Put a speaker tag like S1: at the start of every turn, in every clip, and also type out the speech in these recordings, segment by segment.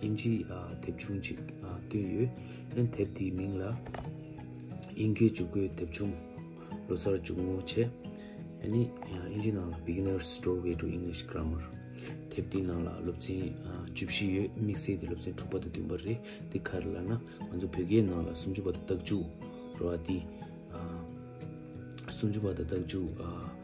S1: དབྱིན་ཇི་དེབ་ཆུང་ཅིག་བཏོན་ཡོད། ཨན་དེབ་དེའི་མིང་ལ། དབྱིན་སྐད་འཇུག་སྒོའི་དེབ་ཆུང། ལོ་སར་འཇུག་ངོ་ཆེ། ཨ་ནི། དབྱིན་ཇི་ནང་ལ Beginner's Doorway to English Grammar། དེབ་དེའི་ནང་ལ་སློབ་ཚན་བཅུ་བཞི་ཡོད། དམིགས་བསལ་གྱི་སློབ་ཚན་དྲུག་པ་དང་བདུན་པ་རེད། དེ་ག་རེ་ལ་ན། ང་ཚོ་བོད་སྐད་ནང་ལ་སུམ་ཅུ་པ་དང་རྟགས་བཅུ། རོ་ཨ་ཏི། སུམ་ཅུ་པ་དང་རྟགས་བཅུ།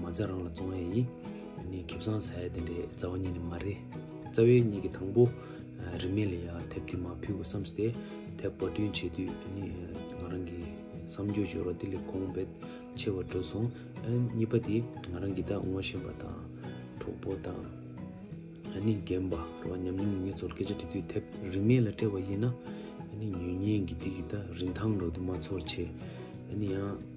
S1: མ་རྩ་རང་ལ་བཙོང་ཡས་ཡིན། ནི་ཁེབས་སང་ཟ་ཡས་དེ་འདྲས་རྩ་བ་ཉིད་ནི་མ་རེད། རྩ་བའི་གཉིས་ཀྱི་དང་པོ། རིན་མེད་ལ་ཡང་དེབ་དེ་མ་ཕུལ་དགོས་བསམ་སྟེ། དེབ་པར་སྐྲུན་བྱེད་དུས་ནི། ང་རང་གིས་བསམ་རྒྱུ་བཞོ་རོ་དེ་ལས་གོང་བེད་ཆེ་བར་འགྲོ་སོང། གཉིས་པ་དེ་ང་རང་གིས་ད་ངོ་ཤེས་པ་དང། གྲོགས་པོ་དང། ནི་རྒན་པ་རོ་ཉམས་མྱོང་ངེད་ཚོར་སྐད་ཆ་འདྲི་དུས་དེབ་རིན་མེད་ལ་སྤྲད་པ་ཡིན་ན། ནི་ཉོས་ཉེན་གྱི་དེ་གི་ད་རིན་ཐང་རོ་དེ་མ་ཚོར་ཆེ། ནི་ཡང།